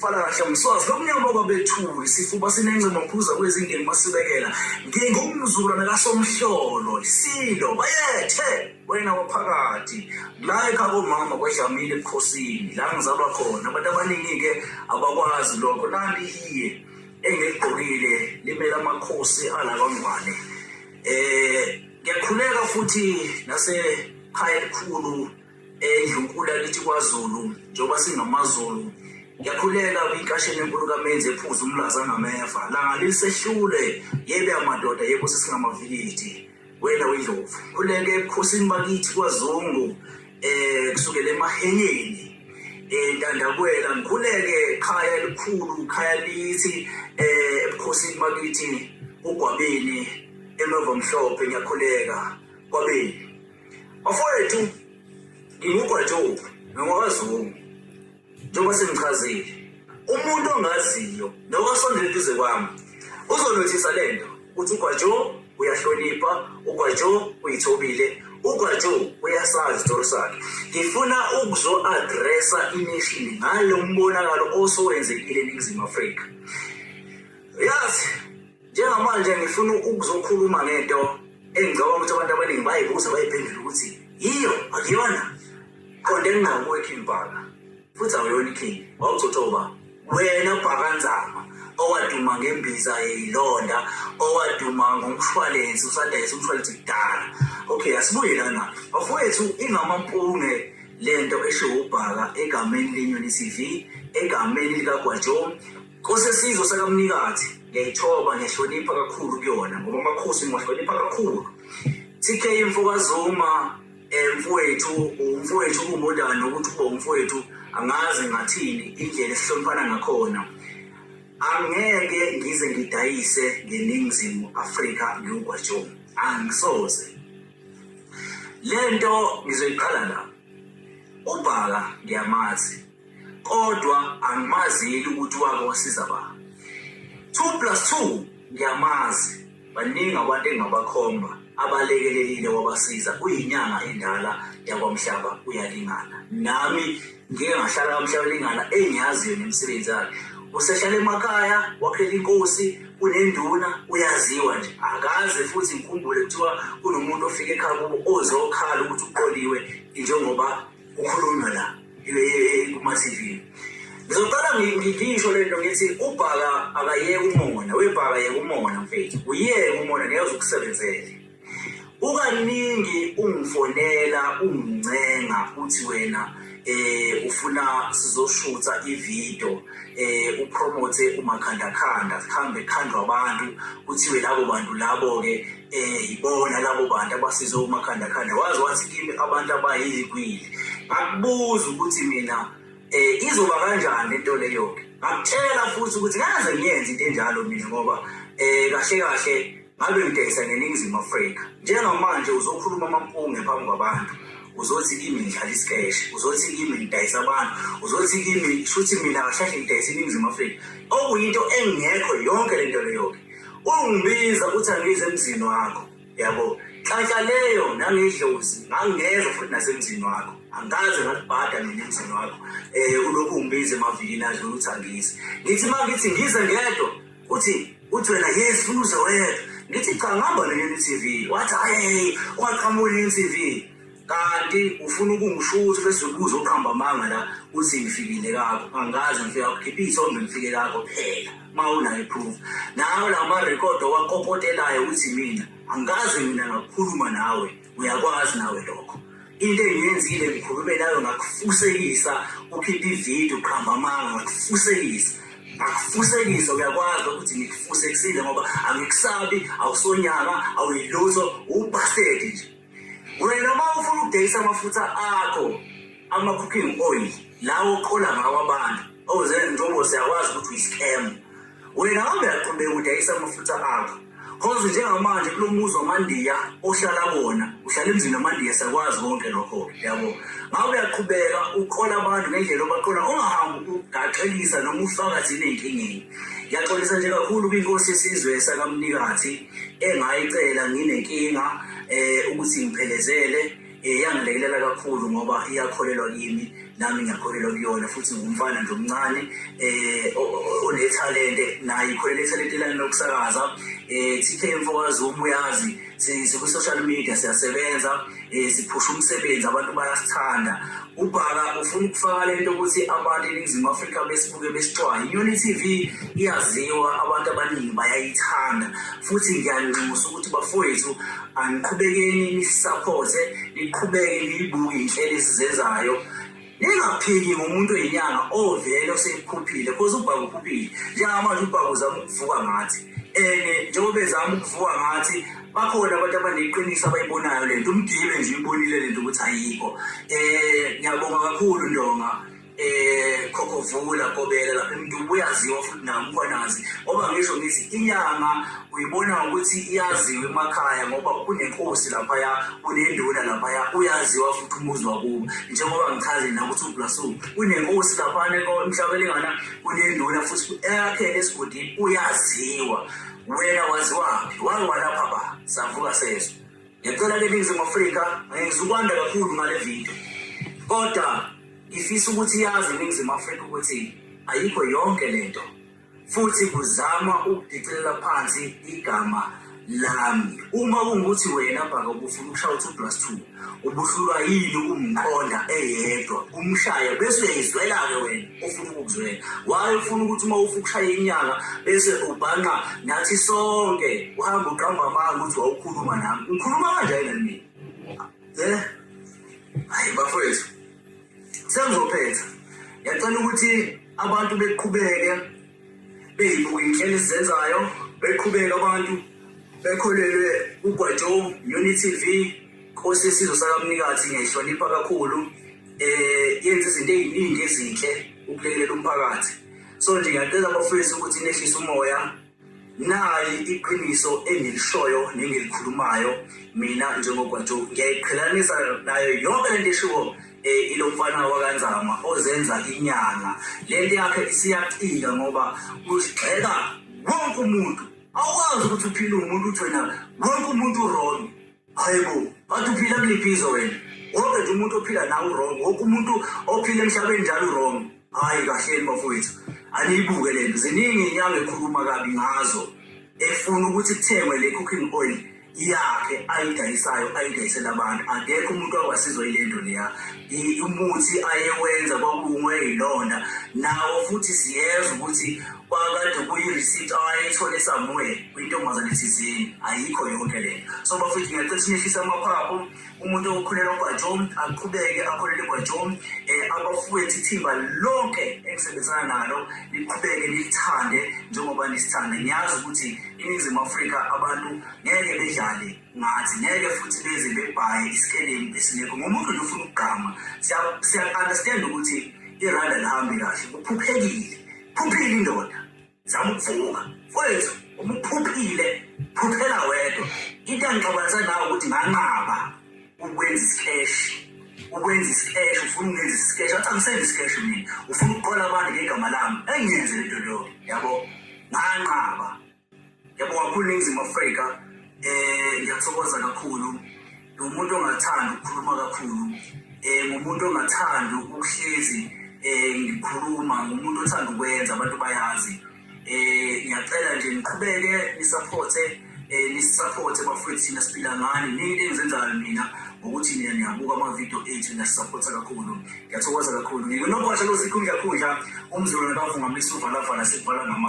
Fala kahle msozi lomnyama kwabethuli sifuba sinencema phuza kwezingeni masibekela ngingumzulwana kasomhlolo isilo bayethe wena waphakathi la ekhaya komama kwadlamile ebukhosini la ngizalwa khona abantu abaningi-ke abakwazi lokho nanti iye engiligqokile limele amakhosi ala kwangwane um ngiyakhuleka futhi nasekhaya elikhulu endlunkulu yakithi kwazulu njengoba singamazulu ngiyakhuleka kwinkasheni enkulu kamenzi ephuza umlaza ngameva langa lilisehlule yebe amadoda yebo sesingamavikiti wena wendlovu khuleke ebukhosini bakithi kwazungu eh kusukela emahenyeni entandakwela eh, ngikhuleke khaya elikhulu khaya lithi eh ebukhosini bakithi ugwabeni emeva mhlophe ngiyakhuleka kwabeni Bafowethu, ngingugwajobu nongwakazungu njengoba sengichazile umuntu ongaziyo nowasondela eduze kwami uzonothisa le nto ukuthi ugwajo uyahlonipha ugwajo uyithobile ugwajo uyasazi isitori sakhe ngifuna ukuzo-adresa inishini ngalo mbonakalo osowenzekile eningizimu afrika yazi Njengamanje ngifuna ukuzokhuluma ngento engicabanga ukuthi abantu abaningi bayibuza bayiphendula ukuthi yiyo akuyona qonde ngqo kuwe King Bhaka futhi awuyona iKing wawuthothoba wena Bhaka Nzama owaduma ngembiza yeyilonda owaduma ngomshwalense usadayisa umshwalense kudala okay asibuye lana bafowethu ingamampunge lento esho ubhaka egameni lenyoni TV egameni likagwajo Nkosi yesizwe sakaMnikathi ngiyayithoba ngiyahlonipha kakhulu kuyona ngoba amakhosi ngiwahlonipha kakhulu TK mfokazuma eh, mfowethu umfowethu kumodana ukuthi uba umfowethu angazi ngathini indlela esihloniphana ngakhona angeke ngize ngidayise ngeningizimu Afrika ngiyugwajomo angisoze lento ngizoyiqala la ubhaka ngiyamazi kodwa angimazi yeli ukuthi wake wasiza ba two plus two ngiyamazi baningi abantu engingabakhomba abalekelelile wabasiza kuyinyanga endala yakwamhlaba uyalingana nami ngike ngahlala kamhlaba lingana engiyaziyo nemisebenzi yakhe usehlala emakhaya wakhela inkosi unenduna uyaziwa nje akaze futhi ngikhumbule kuthiwa kunomuntu ofike ekhaya kubo ozokhala ukuthi uqoliwe njengoba Ukhulunywa la kuma TV. Ngizoqala ngisho lento ngithi ubhaka akayeke umona, webhaka yeke umona mfethu. Uyeke umona ngeke uzokusebenzele. Ukaningi ungifonela ungincenga uthi wena eh ufuna sizoshutha ivideo eh upromote umakhandakhanda sihambe khandwa abantu kuthiwe labo bantu labo ke um yibona labo bantu abasize umakhandakhanda waze wathi kimi abantu abayilikwili ngakubuza ukuthi mina um izoba kanjani le nto leyo-ke ngakutshela futhi ukuthi ngaze ngiyenze into enjalo mina ngoba um kahle kahle ngabe ngidayisa neningizimu afrika njengamanje uzokhuluma amampunge phambi kwabantu uzothi kimi ngidlala isikeshe uzothi kimi ngidayisa abantu uzothi kimi shuthi mina kahlahle ngidayisa iningizimu afrika okuyinto engekho yonke le nto leyo-ke Ungibiza ukuthi angize emzini wakho. Yabo. Nhlanhla leyo nangidlozi ngangeza futhi nasemzini wakho. Angikaze ngakubhada mina emzini wakho. Eh ulokhu ungibiza emavikini adlula ukuthi angize. Ngithi uma ngithi ngize ngedwa uthi uthi wena yes funa uze wedwa. Ngithi cha ngihamba ne-UTV. Wathi hayi ungaqhamuki ne-UTV. Kanti ufuna ukungisho ukuthi bese ubuza uqamba amanga la uthi ngifikile kakho. Angazi ngifika kukhipha isonto ngifike kakho phela. Mawuna iproof. Nawo la ma record owakopotelayo uthi mina angazi mina ngakukhuluma nawe. Uyakwazi nawe lokho. Into engiyenzile ngikhulume nawe ngakufusekisa ukhipha ivideo uqamba amanga ngakufusekisa. akufusekise uyakwazi ukuthi ngikufusekisile ngoba angikusabi awusonyanga awuyilutho ubhasedi nje wena uma ufuna ukudayisa amafutha akho ama-cooking oil lawo oqola ngawo abantu oze njengoba siyakwazi ukuthi uyisikhemu wena kambe yaqhubeka udayisa amafutha akho cause njengamanje kulo muzi wamandiya ohlala kona uhlala emzini wamandiya sakwazi konke lokho yabo ngabe uyaqhubeka uqola abantu ngendlela obaqola ungahambi ugaxelisa noma ufaka thina ey'nkingeni ngiyaxolisa nje kakhulu kwinkosi yesizwe sakamnikathi engayicela nginenkinga eh ukuthi ngiphelezele eh, yangilekelela kakhulu ngoba iyakholelwa kimi nami ngiyakholelwa kuyona futhi ngumfana nje omncane eh onethalente naye ikholela ithalente lami lokusakaza eh TK Mfokazi umuyazi siku social media siyasebenza eh siphusha umsebenzi abantu bayasithanda UBhaka ufuna ukufaka le nto ukuthi abantu eNingizimu Afrika besibuke besixwaye. Inyoni TV iyaziwa, abantu abaningi bayayithanda futhi ngiyanxusa ukuthi bafowethu aniqhubekeni nisaphothe, niqhubeke niyibuke inhlelo esizenzayo ningaphiki ngomuntu oyinyanga ovele osekukhuphile cause ubhaka ukhuphile njengamanje ubhaka uzama ukuvuka ngathi and njengoba ezama ukuvuka ngathi bakhona abantu abaneqiniso abayibonayo le nto umgibe nje uyibonile le nto ukuthi ayikho um eh, ngiyabonga kakhulu ndonga eh khokhovula kobela lapha umuntu uyaziwa futhi nami ukwanazi ngoba ngisho ngithi inyanga uyibona ukuthi iyaziwa emakhaya ngoba kunenkosi lapha ya kunenduna lapha ya uyaziwa futhi umuzi wakubo njengoba ngichaze na ukuthi ublasu kunenkosi lapha ne emhlabeni ngana kunenduna futhi eyakhele esigodini uyaziwa Wena waziwaphi? Wangiwalapha ba? Samvuka sezwe. Ngicela ke Ningizimu Afrika ngizukwanda kakhulu ngale video. Kodwa ngifisa ukuthi yazi Ningizimu Afrika ukuthi ayikho yonke lento. Futhi kuzama ukudicilela phansi igama lami. Uma kungukuthi wena bhaka ubufuna ukushawa 2 plus 2 ubuhlulwa yini ukumqonda eyedwa umshaya bese uyayizwela-ke wena ofuna ukukuzwela waye ufuna ukuthi uma ufa ukushaya inyanga bese ubhanqa nathi sonke uhamba uqamba amanga ukuthi wawukhuluma nami ngikhuluma kanjani nani mina um hayi bafowethu sengizophetha ngiyacela ukuthi abantu beqhubeke Beyibuka inhlelo ezenzayo beqhubeka abantu bekholelwe kugwajo Unity TV Nkosi yesizwe sakamnikathi ngiyayihlonipha kakhulu eh yenza izinto eziningi ezinhle ukulekelela umphakathi so nje ngiyacela abafowethu ukuthi nehlise umoya nayi iqiniso engilishoyo nengilikhulumayo mina njengogwajo ngiyayiqhelanisa nayo yonke lento eshiwo Eh, ilo mfana wakanzama ozenza inyanga lento yakhe isiyaqika ngoba usigxeka wonke umuntu awukwazi ukuthi uphile umuntu uthwena wonke umuntu urong hayi bo bathi uphila kuliphi izwe wena wonke nje umuntu ophila nawe urong wonke umuntu ophila emhlabeni njalo urong Hayi kahleni bafowethu, aniyibuke le nto. Ziningi inyanga ekhuluma kabi ngazo efuna ukuthi kuthengwe le cooking oil yakhe ayidayisayo ayidayisela abantu. Akekho umuntu wakwasizwa yile nto leya. I- Umuthi ayewenza kwakulungwe yilonda nawo futhi siyeza ukuthi kwakade kuyi-receipt ayethole somewhere kwintombazane thizeni ayikho yonke le nto so bafowethu ngiyacela sinehlise amaphaphu umuntu okholelwa kwaJohn aqhubeke akholele kwaJohn eh abafowethu ithimba lonke engisebenzana nalo liqhubeke lithande njengoba nisithanda ngiyazi ukuthi iningizimu Afrika abantu ngeke bedlale ngathi ngeke futhi beze bebhaye isikelemu esinekho ngomuntu nje ufuna ukugama siya understand ukuthi iranda lihambe kahle kuphuphekile phuphile indoda zamvuka mfowethu umuphuphile phuphela wedwa into angixabanisa nawe ukuthi nganqaba ukwenza isikeshi ukwenza isikeshi ufuna ukwenza isikeshi athi angisenzi isikeshi mina ufuna ukuqola abantu ngegama lami engiyenze le nto leyo yabo nganqaba yabo wakhulu ningizimu afrika um ngiyathokoza kakhulu ngumuntu ongathandi ukukhuluma kakhulu um ngumuntu ongathandi ukuhlezi um ngikhuluma ngumuntu othanda ukwenza abantu bayazi um ngiyacela nje niqhubeke nisaphothe um nisisaphothe bafowethu thina siphila ngani nini engizenzayo mina ngokuthi nina niyabuka amavidiyo ethu niyasisaphotha kakhulu ngiyathokoza kakhulu ngikunobhasha losikhu ngiyakhundla umzulu nakavungamisa uvalavala sekuvala ngama